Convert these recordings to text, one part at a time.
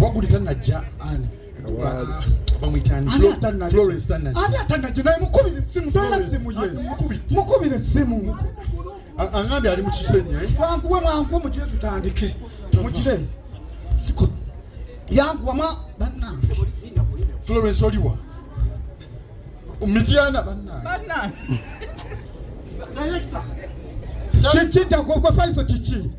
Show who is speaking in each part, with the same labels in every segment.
Speaker 1: waguli
Speaker 2: tanajja
Speaker 1: mukubira essimu angambye
Speaker 2: ali mukisenyi eh? twankuwe mwankuwe
Speaker 1: mugire tutandike mugire yankuwama bannange florence
Speaker 2: oliwa mityana bannange
Speaker 1: kiki ntakwogwa faiso kiki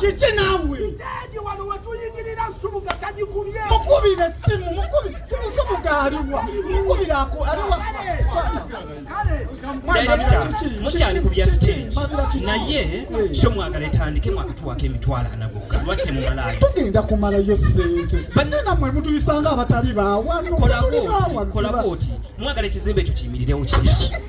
Speaker 1: kiki naawe
Speaker 3: mukubire simu
Speaker 1: mukubire simu subuga aliwa mukubire ako
Speaker 4: aliwa mukyali ku bya stage naye kyo mwagala etandike mwakatuwako emitwalo ana gokka lwaki temumalayo tugenda kumalayo
Speaker 1: sente banne namwe mutuyisanga abatali bawano
Speaker 4: kolaboti mwagala ekizimbe ekyo kiyimirirewo kiki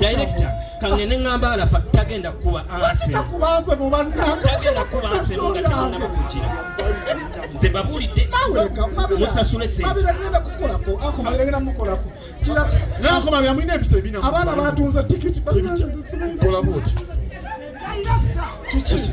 Speaker 1: dayirekita
Speaker 4: kangende ngamba alafa tagenda kukuba ansetagenda
Speaker 1: kukuba nsebo
Speaker 4: nga temunaba kukira nze mbabuulidde musasule
Speaker 1: senteabaana
Speaker 2: batunze tikiti kolabuti kiki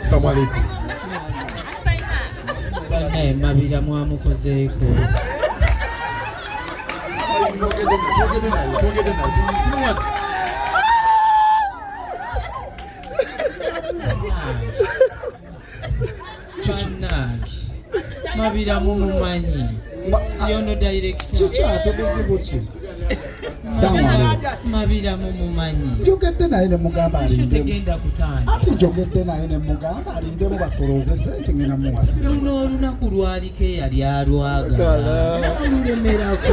Speaker 2: Assalamu alaikum.
Speaker 5: Bane mabira mwamukozeeko. kikinange mabira mumumanyi yono
Speaker 1: direkitakikyatebuzibukye
Speaker 5: mabira mumumanyi njogedde naye
Speaker 1: nemugamba tegenda kutanda
Speaker 5: ati njogedde naye
Speaker 1: nemugamba alindemu basolooze sente ngena muwasi luno olunaku
Speaker 5: lwaliko eyali alwagala nolulemerako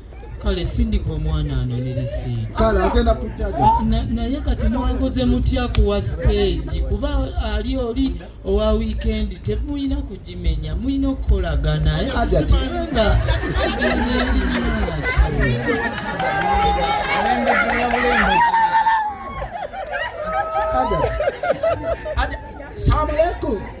Speaker 5: kale sindika omwana anone lisiiti kale agenda kujaja
Speaker 1: naye kati mwankoze
Speaker 5: mutya kuwa siteegi kuba ali oli owa wiikendi temulina kugimenya mulina okukolagana nga Assalamu
Speaker 1: alaikum.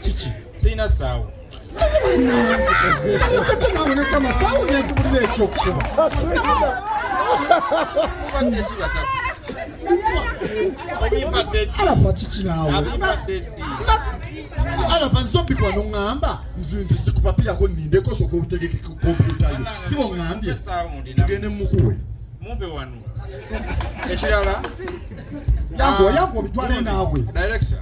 Speaker 6: kiki sirina
Speaker 1: saawo alafa kikirawo
Speaker 2: alafa nsobikwa noŋŋamba nze nti sikupapirako nindeko soka obutegeke kompyuta yo siba oŋŋambye tugende mukuwe mumpe wano
Speaker 6: ekirala
Speaker 1: yangu yangu obitwale naawe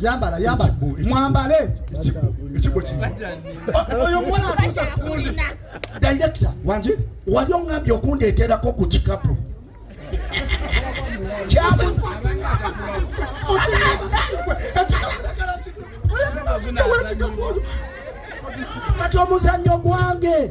Speaker 1: yambala yambala mwambale ekiggo kino
Speaker 2: oh, oyo omuwala
Speaker 1: atuusa kundi director
Speaker 3: wanje wali
Speaker 1: ongambye
Speaker 3: okundeeterako ku kikapu kati omuzannyo gwange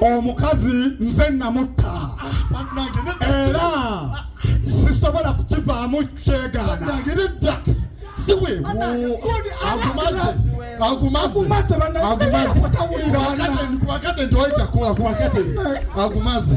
Speaker 1: omukazi nze namutta era sisobola kukivaamu
Speaker 2: kyegaana
Speaker 1: agumaze